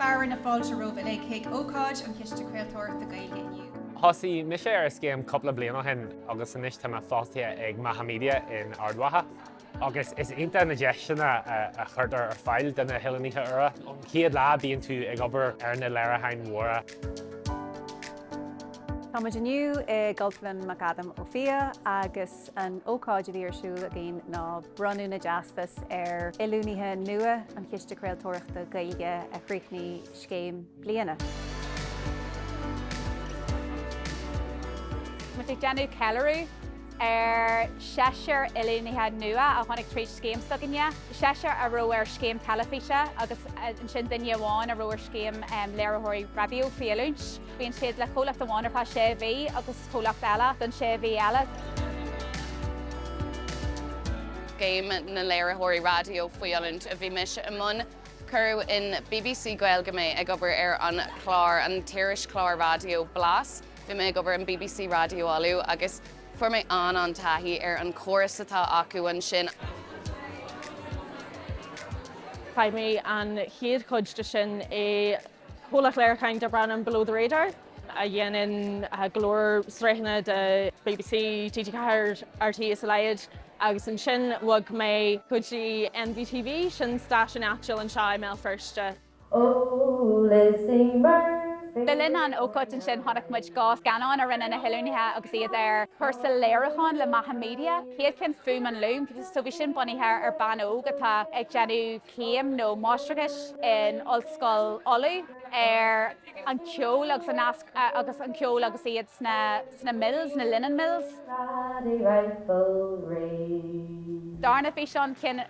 Fearadh na fáilte romhaibh uilig chuig ócáid an Chiste Craoltóireachta Gaeilge inniu. Thosaigh mise ar an scéim cúpla bliain ó shin agus anois tá mé fostaithe ag Macha Media in Ard Mhacha agus is iontach na deiseanna a chuirtear ar fáil do na hoiliúnaithe úra. Ón chéad lá bíonn tú ag obair ar na léiriúcháin mhóra. Tá muid inniu i gCultúrlann McAdam Ó Fiaich agus An ócáid a bhí ar siúl againn ná bronnadh na dteastas ar oiliúnaithe nua an Chiste Craoltóireachta Gaeilge a chríochnaigh scéim bliana. Tá muid ag déanamh ceiliúradh ar seisear oiliúnaithe nua a tháinig tríd scéim s'againne, seisear a raibh ar scéim teilifíse agus ansin duine amháin a raibh ar scéim léiritheoirí raidió faoi oiliúint. Bíonn siad le comhlacht amháin ar feadh sé mhí agus comhlacht eile don sé mhí eile. Scéim na Léiritheoirí Raidió Faoi Oiliúint a bhí mise i mbun. Cuireadh in bbc Gaeilge mé ag obair ar an chlár, an t-irischlár raidió Blas. Bhí mé ag obair in bbc Raidió Uladh agus fuair mé an-an-taithí ar an chóras atá acu ansin. Chaith mé an chéad chuid de sin i gcomhlacht léiriúcháin darb ainm Below the Radar. a dhéanann go leor sraitheanna do bbc, TG4, rte is a leithéid agus ansin bhog mé go dtí NVTV, sin stáisiún áitiúil anseo i mBéal Feirste. Ó Lizzy Murphy. Le linn an ócáid ansin chonaic muid dhá scannán a rinne na hoiliúnaithe agus iad ar chúrsa léiriúcháin le Macha Media, chéad cheann Fuaim an Lúm, so bhí sin bunaithe ar bean óg atá ag déanamh céim nó máistreachais in Ollscoil Uladh ar. an ceol agus an nasc agus an ceol agus iad sna sna mills, na linen mills. Paddy Rafferty. darna físeán, ceann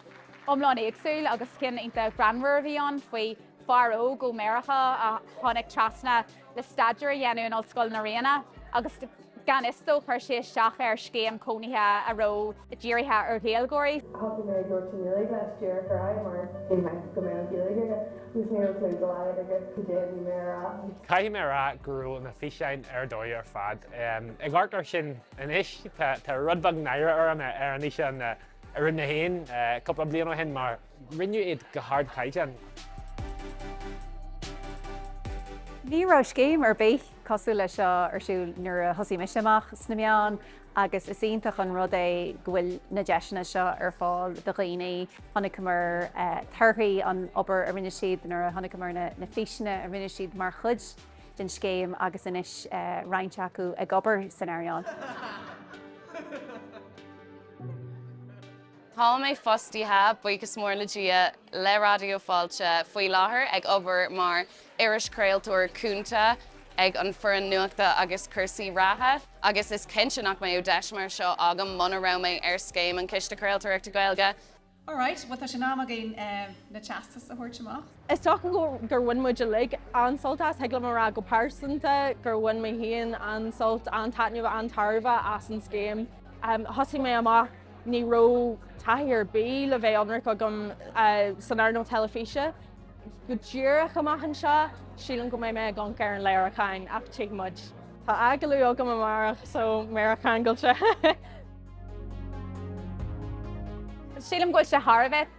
iomlán éagsúil agus ceann iontach greannmhar a bhí ann faoi fear óg ó Meiriceá a tháinig trasna le staidéar a dhéanamh in Ollscoil na Ríona agus. Gan fhios dó, chuir sé isteach ar scéim cónaithe a raibh dírithe ar Ghaeilgeoirí. Thosaigh mé ag labhairt i nGaeilge le Stuart Fry mar thuig mé go mbeadh Gaeilge aige agus ní raibh cliú dá laghad aige cad é a bhí mé a rá. Caithfidh mé a rá go raibh na físeáin ar dóigh ar fad. Ag amharc air sin anois, tá rud beag náire orm ar an fhíseán a rinne mé féin cúpla bliain ó shin mar, Rinneadh iad go hardchaighdeán. Ní raibh scéim ar bith cosúil leis seo ar siúl nuair a thosaigh mise amach sna meáin agus is iontach an rud é go bhfuil na deiseanna seo ar fáil do dhaoine. Chonaiceamar torthaí an obair a rinne siad nuair a chonaiceamar na físeanna a rinne siad mar chuid den scéim agus anois roinnt acu ag obair san earnáil. Tá mé fostaithe, buíochas mór le Dia, le Raidió Fáilte faoi láthair ag obair mar irischraoltóir cúnta ag an foireann nuachta agus cúrsaí reatha agus is cinnte nach mbeadh deis mar seo agam muna raibh mé ar scéim an Chiste Craoltóireachta Gaeilge. Alright, bhuel tá sé in am againn na teastais a thabhairt amach. Is dócha gur bhain muid uilig an-sult as, thig liom a rá go pearsanta gur bhain mé féin an-sult, an-taitneamh, an-tairbhe as an scéim. Thosaigh mé amach. Ní raibh taithí ar bith, le bheith ionraic, agam san earnáil teilifíse. Go díreach amach anseo, sílim go mbeidh mé ag amharc ar an léiriúchán, ach tchífidh muid. Tá agallamh agam amárach, so méara ceangailte! Sílim go bhfuil sé thar a bheith